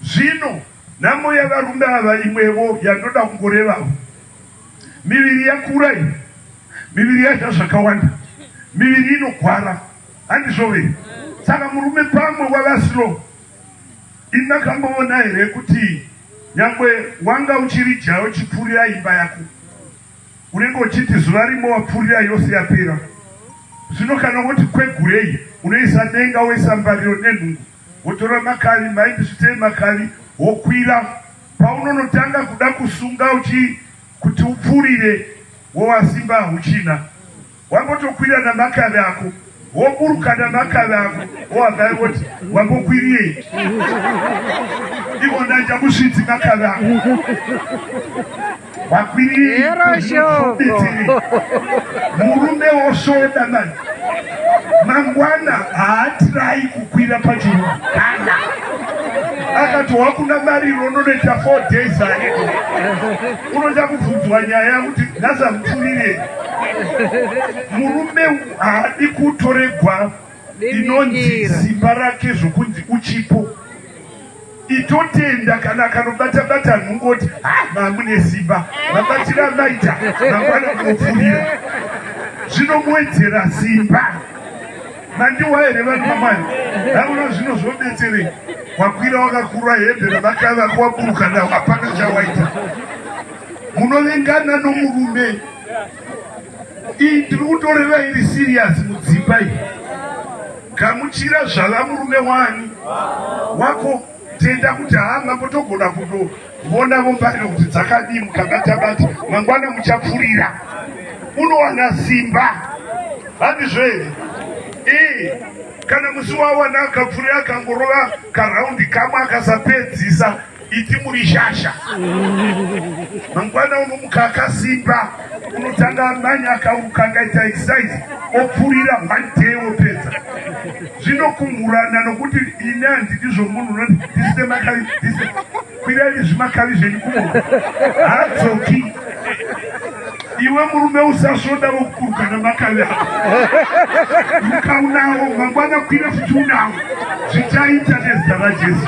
Zvino, nhamo yavarume ava imwewo yandoda kungorevawo. Miviri yakura iyi, miviri yadya zvakawanda, miviri inogwara, handizvo here? Saka murume pamwe wava slow. Imi makamboona here kuti nyangwe wanga uchiri jaya uchipfuurira imba yako, unenge uchiti zuva rimwe wapfuurira yose yapera? Zvino kana woti kwegurei, unoisa denga, woisa mbariro nenhungu. Wotora makavi mhaindi svitei makavi wokwira paunonotanga kuda kusunga uchi kuti upfuurire wova simba hauchina wangotokwira namakavi ako woburuka namakavi ako wohagaya woti wambokwirirei ivona njamusvitsi makavi ako vakwiriiroshoko murume wosvoda mani mangwana haatirai kukwira pachiruu kana akati wakuna mari rononoita four days ae unoda kubvunzwa nyaya yakuti nhazamupfurirei murume haadi kutoregwa inonzi simba rake zvokunzi uchipo itotenda kana akanobata bata nhungoti ha ah, mamune simba vabatira maita mangwana munopfurira zvinomuwedzera simba mandiwa here vanhu vamwari hauna zvino zvobetserei wakwira wakakurwa hembe ravaka vako waburuka nawo hapana chawaita munovengana nomurume Iyi tiri kutorera iri serious mudzimba iyi. Gamuchira zvala murume wani wako tenda kuti haa mambo togona kutovona vombariro kuti dzakadii mukabata-bata mangwana muchapfurira unowana simba handizvo here ee kana musi wawana akapfurira akangorova karaundi kamwe akasapedzisa Iti muri shasha. Mangwana unomuka akasimba, unotanga amanya akauka akaita exercise, opfurira one day opedza. Zvinokumhurana nokuti ini handidi zvomunhu unoti ndisite makavi, ndisite kwirai zvimakavi zvenyu kumona. Hadzoki. Iwe murume usasvoda vokukurukana makavi avo. Ukaunawo mangwana kwira futi unawo. Zvichaita nezita raJesu.